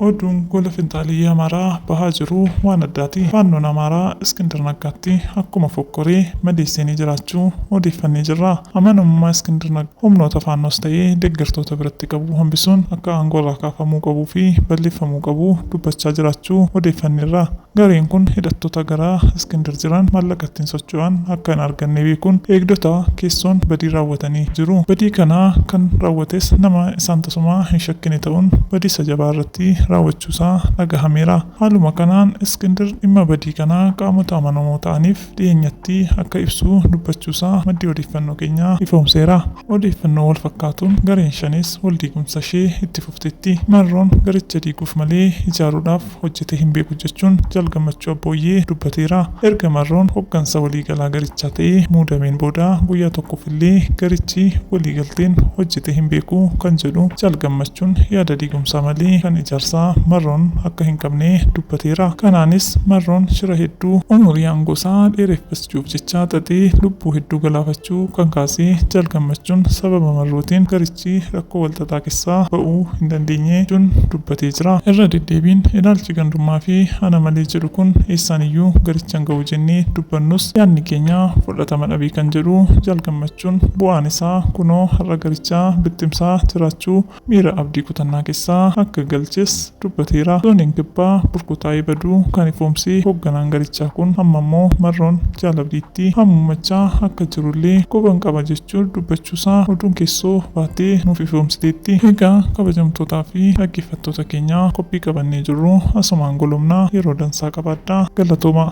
Oduun gola finxaaliyyi Amaaraa bahaa jiru waan addaati. Faannoon Amaaraa Iskindir Naggaatti akkuma fokkoree madeesseenii jiraachuu odeeffannee jirra. Amanamummaa Iskindir Naggaa humnoota faannoos ta'ee deggertoota biratti qabu hambisuun akka aangoorraa kaafamuu qabuu fi balleeffamuu qabu dubbachaa jiraachuu odeeffanneerra. Gareen kun hidhattoota gara Iskindir jiran maallaqa ittiin socho'an akka hin arganne beekuun eegdota keessoon badii raawwatanii jiru. Badii kana kan raawwates nama isaan tasumaa hin shakkine ta'uun badiisa jabaa irratti raawwachuusaa dhagahameera. Haaluma kanaan Iskindir dhimma badii kanaa qaamota amanamoo ta'aniif dhiyeenyatti akka ibsu dubbachuusaa maddi odeeffannoo keenyaa ifoomseera. Odeeffannoo walfakkaatuun gareen Shanees waldiigumsa ishee itti fufteetti. Marroon garicha diiguuf malee ijaaruudhaaf hojjetee hin beeku jechuun Jaal Gammachuu Abbooyyee dubbateera. Erga Marroon hoggansa waliigalaa garichaa ta'ee muudameen booda guyyaa 1 illee garichi waliigalteen hojjetee hin beeku kan jedhu Jaal Gammachuun yaada diigumsaa malee kan ijaarsaa Marroon akka hin qabne dubbateera. Kanaanis Marroon shira hedduu umurii aangoosaa dheereffachuuf jecha xaxee lubbuu hedduu galaafachuu kan kaase Jaal Gammachuun sababa Marrootiin garichi si rakkoo walxaxaa kessaa ba'uu hin dandeenye jechuun dubbatee jira. Irra deddeebiin ilaalchi gandummaa fi ana malee jedhu kun eessaan iyyuu garicha hin ga'u jennee dubbannus yaadni keenya fudhatama dhabe kan jedhu Jaal Gammachuun bu'aan isaa kunoo har'a garicha bittimsaa jiraachuu miira abdii kutannaa keessa akka galches dubbateera. Zooniin Kibbaa burkutaa'ee baduu kan ifoomse hogganaan garichaa kun amma ammoo marroon Jaal Abdiitti hamuummachaa akka jirullee quban qaba jechuun dubbachuusaa oduun keessoo baatee nuuf ifoomsiteetti. Egaa kabajamtootaa fi dhaggeeffattoota keenya qophii qabannee jirru asumaan golobna yeroo dansaa qabaadhaa. Galatoomaa!